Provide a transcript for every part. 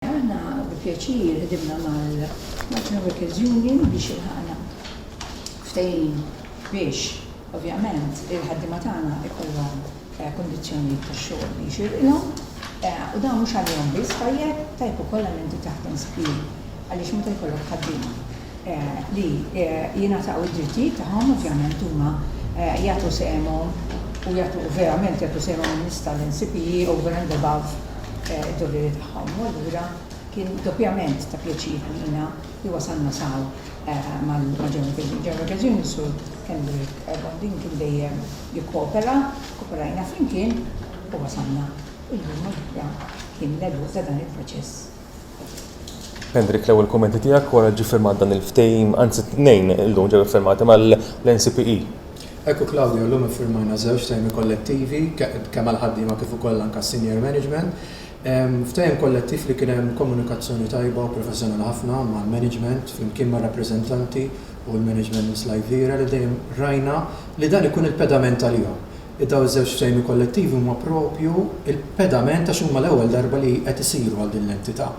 Aħna bi pjaċir ħdimna mal-Malta Workers Union biex ilħaqna ftehim biex ovvjament il-ħaddiema tagħna jkollhom kundizzjonijiet tax-xogħol li jxirqilhom u dan mhux għalihom biss tajjeb, tajjeb ukoll għal min titaħdem sbieħ għaliex meta jkollok ħaddiema li jingħataw id-drittijiet tagħhom ovvjament huma jagħtu sehemhom u jagħtu verament jagħtu sehemhom in-nista' l-NCPE over and above id-doveri tagħhom. Ħamu allura kien doppjament ta' pjaċir għalina li wasalna saw ma' German Vision. German Vision is-Sur Henrik Bondin kien dejjem jikkoopera, kooperajna flimkien u wasalna. Illum allura kien l-għeluq ta' dan il-proċess. Henrik, l-ewwel kummenti tiegħek wara li ġie ffirmat dan il-ftehim, anzi tnejn illum ġew iffirmati mal-NCPE. Hekk hu Claudio, illum iffirmajna żewġ ftehimiet kollettivi kemm għall-ħaddiema kif ukoll anke għas-senior management. Ftehim kollettiv li kien hemm komunikazzjoni tajba u professjonali ħafna mal-management flimkien mar-rappreżentanti u l-management minn Sly Vieira li dejjem rajna li dan ikun il-pedament għalihom. Dawn iż-żewġ ftehimiet kollettivi huma proprju l-pedament għax huma l-ewwel darba li qed isiru għal din l-entità.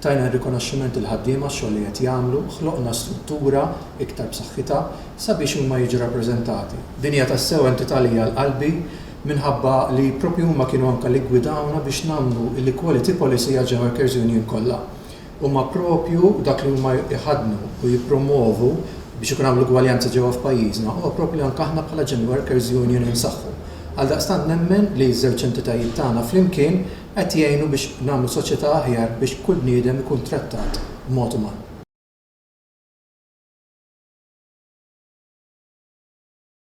Tajna r-rikonoxximent lill-ħaddiema għax-xogħol li qed jagħmlu, ħloqna struttura iktar b'saħħitha sabiex huma jiġu rappreżentati. Din hija tassew entità li hija għal qalbi minħabba li proprju huma kienu anka li ggwidawna biex nagħmlu l-equality policy għal ġe workers union kollha. Huma proprju dak li huma jħaddnu u jippromwovu biex ikun hawn l-ugwaljanza ġewwa f'pajjiżna huwa proprju li anke aħna bħala ġen workers union insaħħu. Għaldaqstant nemmen li ż-żewġ entitajiet tagħna flimkien qed jgħinu biex nagħmlu soċjetà aħjar biex kull bniedem ikun trattat b'mod uman.